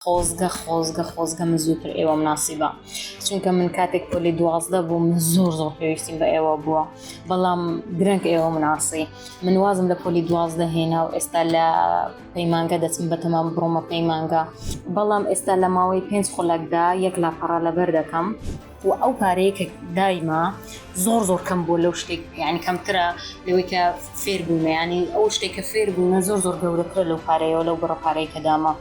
خۆزگە خۆزگە خۆزگە من زووتر ئێوەم ناسیبا چونکە من کاتێک پۆلی دوازدە بووم زۆر زۆر پێویستیم بە ئێوە بووە بەڵام درەنگ ئێوە مناسی من وازم لە پۆلی دوازدە هێنا و ئێستا لە پەیمانگە دەچم بە تەمام بڕۆمە پەیمانگە بەڵام ئێستا لە ماوەی پێنج خولەکدا یەک لاپەڕە لەبەر دەکەم وە ئەو پارەیە کە دایمە زۆر زۆر کەم بووە لەو شتێک یعنی کەمترە لەوەی کە فێر بوومە ینی ئەو شتێک کە فێر بوومە زۆر زۆر گەورەترە لەو پارەیەوە لەو بڕە پارەی کە دامە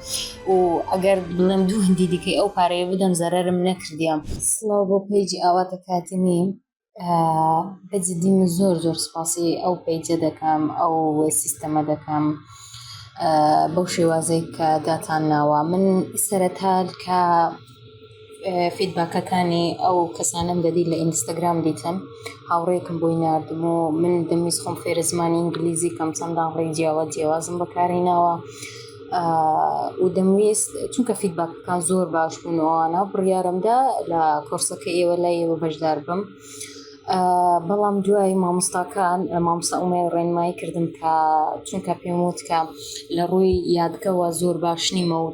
و ئەگەر بڵێم دوو هندی دیکەی ئەو پارەیە بدەم زەرەرم نەکردیە. سڵاو بۆ پەیجی ئاواتە کاتمی بە جدی من زۆر زۆر سپاسی ئەو پەیجە دەکەم ئەو سیستەمە دەکەم بەو شێوازەی کە داتان ناوە من سەرەتا کە فیدباکەکانی ئەو کەسانەم دەدیت لە ئینستاگرام دیتم هاوڕێکم بۆی ناردم و من دەمویست خۆم فێرە زمانی ئینگلیزی کەم چەندە ڕێی جیاوا جیاوازم بەکاری ناوە و دەمویست چونکە فیدباکەکان زۆر باش بوونەوەوانە بڕیارمدا لە کۆرسەکە ئێوە لای ئێوە بەشدار بم. بەڵام دوای مامۆستاکان مامۆستا ئومێد ڕێنمایی کردم کە چونکە پێم وت کە لە ڕووی یادگەوە زۆر باش نیمە و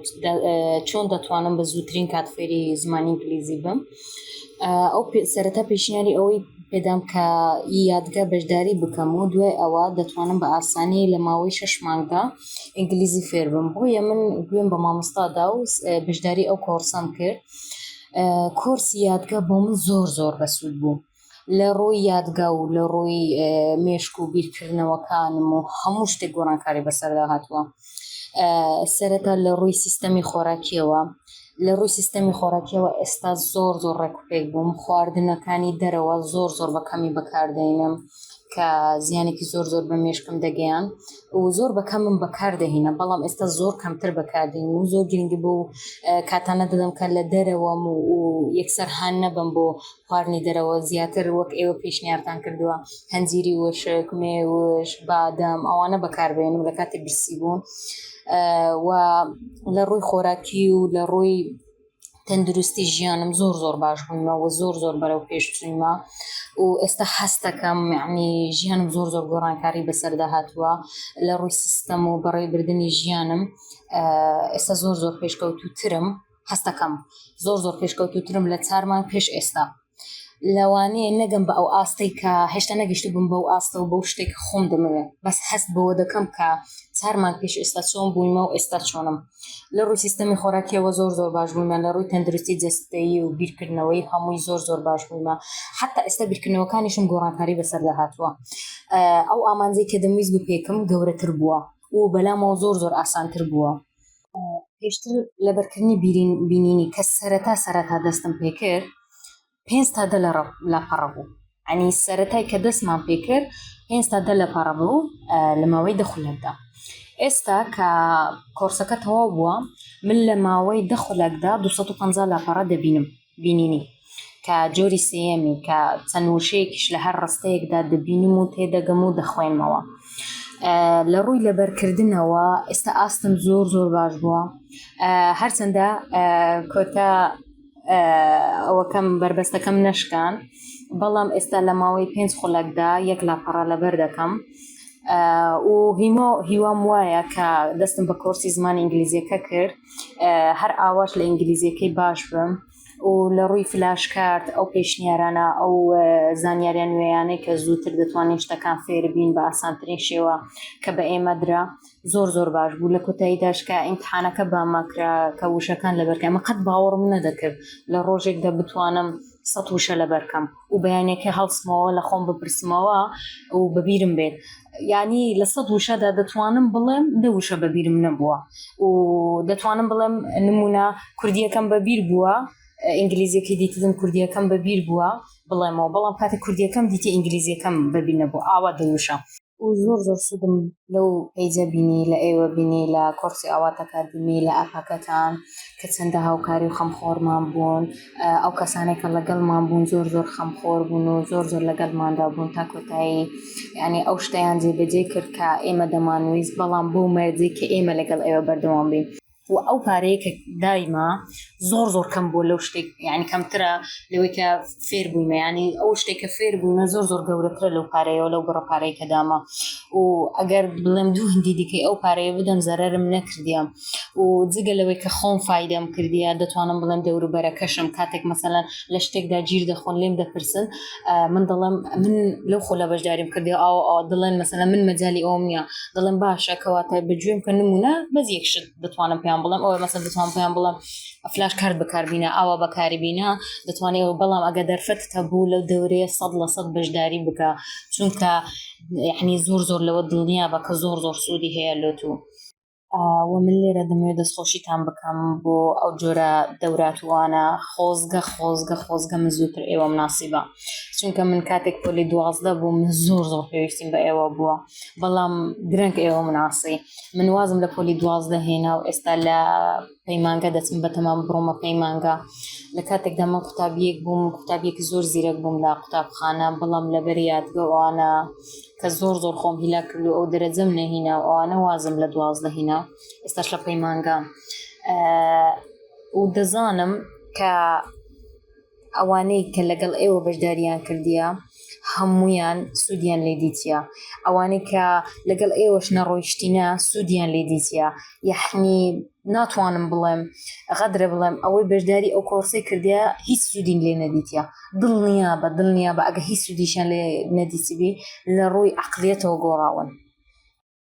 چۆن دەتوانم بە زووترین کات فێری زمانی ئینگلیزی بم ئەو سەرەتا پێشنیاری ئەوەی پێدام کە یادگە بەشداری بکەم و دوای ئەوە دەتوانم بە ئاسانی لە ماوەی شش مانگدا ئینگلیزی فێربم بۆیە من گوێم بە مامۆستادا و بەشداری ئەو کۆڕسەم کرد. کۆرسی یادگە بۆ من زۆر زۆر بەسوود بوو لە ڕووی یادگە و لە ڕووی مێشک و بیرکردنەوەکانم و هەموو شتێک گۆڕانکاری بەسەردا هاتووە سەرەتا لە ڕووی سیستەمی خۆراکیەوە لە ڕووی سیستەمی خۆراکیەوە ئێستا زۆر زۆر ڕێکوپێک بووم خواردنەکانی دەرەوە زۆر زۆر بە کەمی بەکاردێنم کە زیانێکی زۆر زۆر بە مێشکم دەگەیان و زۆر بەکەمم بەکاردەهینە بەڵام ئێستا زۆر کەمتر بەکاردین و زۆر گرنگی بۆ کاتانە دەدەم کە لە دەرەوەم و یەکسەر هاان نەبم بۆ خواردنی دەرەوە زیاتر وەک ئێوە پێشنیارتان کردووە هەنجیری وشک مێوش بادەم ئەوانە بەکاربێنم لە کاتی برسی بوون و لە ڕووی خۆراکی و لە ڕووی تەندروستی ژیانم زۆر زۆر باش بوومە و زۆر زۆر بەرەو پێشچوومە و ئێستا هەستەکەم یعنی ژیانم زۆر زۆر گۆڕانکاری بەسەردا هاتووە لە ڕووی سیستەم و بەڕێبردننی ژیانم ئێستا زۆر زۆر پێشکەوتوترم هەستەکەم زۆر زۆر پێشکەوتوترم لە چارمان پێش ئێستا لەوانەیە نەگەم بە ئەو ئاستەی کە هێشتا نەگەشتبووم بەو ئاستە و بەو شتەی کە خۆم دەمەوێ بەس هەست بەوە دەکەم کە چار مانگ پێش ئێستا چۆن بوویمە و ئێستا چۆنم لە ڕووی سیستەمی خۆراکیەوە زۆر زۆر باش بوویمە لە ڕووی تەندروستی جەستەیی و بیرکردنەوەی هەمووی زۆر زۆر باش بوویمە حتا ئێستا بیرکردنەوەکانیشم گۆڕانکاری بەسەردا هاتووە ئەو ئامانجەی کە دەمویست بپێکم گەورەتر بووە و بەلامەوە زۆر زۆر ئاسانتر بووە. پێشتر لەبەرکردنی بینینی کە سەرەتا سەرەتا دەستم پێکرد پێنج تا دە لە پەڕە بوو ئەنی سەرەتای کە دەستمان پێکرد پێنج تا دە لە پەڕە بوو لە ماوەی دەخولەکدا ئێستا کە کۆرسەکە تەواو بووە من لە ماوەی دەخولەکدا 250 لاپەڕە دەبینم بینینی، کە جۆری سێیەمی، کە چەند وشەیەکیش لە هەر ڕستەیەکدا دەبینم و تێدەگەم و دەخوێنمەوە. لە ڕووی لەبەرکردنەوە ئێستا ئاستم زۆر زۆر باش بووە، هەرچەندە کۆتا ئەوەکەم بەربەستەکەم نەشکان، بەڵام ئێستا لە ماوەی پێنج خولەکدا یەک لاپەڕە لەبەر دەکەم. و هیمۆ هیوام وایە کە دەستم بە کۆرسی زمان ئینگلیزیەکە کرد هەر ئاواش لە ئینگلیزیەکەی باش بم و لە ڕووی فلاش کارت ئەو پێشنیارانە ئەو زانیاریان نوێیانەی کە زووتر دەتوانین شتەکان فێربین بە ئاسانترین شێوە کە بە ئێمە درا زۆر زۆر باش بوو لە کۆتایی داشکە ئیمتحانەکە بامەکرا کە وشەکان لەبەرکەمە قەت باوەڕم نەدەکرد لە ڕۆژێکدا بتوانم سە وشە لەبەرکەم و بەیانێکە هەڵسمەوە لە خۆم بپرسمەوە و بەبیرم بێت ینی لە سەد وشەدا دەتوانم بڵێم دە وشە بەبیرم نەبووە و دەتوانم بڵێم نمونە کوردیەکەم بەبیر بووە ئینگلیزیەکەی دیتدم کوردیەکەم بەبیر بووە بڵێمەوە بەڵام کاتی کوردیەکەم دیتی ئینگلیزیەکەم بەبی نەبوو ئاوا دەوشە و زۆر زۆر سودم لەو پەیجە بینی لە ئێوە بینی لە کۆڕسی ئاواتەکە بینی لە ئەپەکەتان کە چەندە هاوکاری و خەمخۆرمان بوون ئەو کەسانێک کە لەگەڵمان بوون زۆر زۆر خەمخۆر بوون و زۆر زۆر لەگەڵماندا بوون تا کۆتایی یعنی ئەو شتیان جێبەجێ کرد کە ئێمە دەمانویست بەڵام بۆ مەرجی کە ئێمە لەگەڵ ئێوە بەردەوام بین و ئەو پارەیە کە دایمە زۆر زۆر کەم بوو لەو شتێک یعنی کەمترە لەوەی کە فێر بوویمە ینی ئەو شتێک کە فێر بوومە زۆر زۆر گەورەترە لەو پارەیەوە لەو بڕە پارەی کە دامە و ئەگەر بڵێم دوو هندی دیکەی ئەو پارەیە بدەم زەرم نەکردیم و جگە لەوەی کە خۆم فیدەم کردیە دەتوانم بڵێم دەوروبەرەکەشم کاتێک مەسەەن لە شتێکدا گیر دەخۆن لێم دەپرسن من دەڵم من لەو خۆلا بەشداریم کردی ئاو ئا دڵێن مەسەلا من مەجای ئەوم نیە دڵم باشە کەواتە بەگوێم کە نمونە بەز یەکشت دەتوانم پێیان بڵم ئەوە مەسە دەتوان پێیان بڵم ئەفلاش کار بەکاربیینە ئاوا بەکاری بینە دەتوانێت ئەوە بەڵام ئەگە دەرفەت هەبوو لەو دەورەیە سەد لە سەد بەشداری بکە چونکە یعنی زۆر زۆر لەوە دڵنیا بە کە زۆر زۆر سوودی هەیە لۆ تو و من لێرە دەمەوێت دەستخۆشیتان بکەم بۆ ئەو جۆرە دەوراتوانە خۆزگە خۆزگە خۆزگە من زووتر ئێوەم ناسیبە چونکە من کاتێک پۆلی دوازدە بوو من زۆر زۆر پێویستیم بە ئێوە بووە بەڵام درەنگ ئێوە مناسی من وازم لە پۆلی دوازدە هێنا و ئێستا لە پەیمانگە دەچم بەتەمام بڕۆمە پەیمانگا لە کاتێکدا من قوتابیەک بووم قوتابیەکی زۆر زیرەک بووم لە قوتابخانە بەڵام لەبەر یادگە ئەوانە کە زۆر زۆر خۆم هیلا کرد و ئەو دەرەجەم نەهینا و ئەوانە وازم لە دوازدە هینا ئێستاش لە پەیمانگام و دەزانم کە ئەوانەی کە لەگەڵ ئێوە بەشداریان کردیە هەموویان سوودیان لێ دیتیە ئەوانەی کە لەگەڵ ئێوەش نەڕۆیشتینە سوودیان لێ دیتیە یحنی ناتوانم بڵێم غەدرە بڵێم ئەوەی بەشداری ئەو کۆرسی کردیا هیچ سوودین لێ نەدیتە دڵنیا بە دڵنیا بە ئەگە هیچ سوودیشان لێ نەدیسیبی لە ڕووی عقلیەتەوە گۆڕاون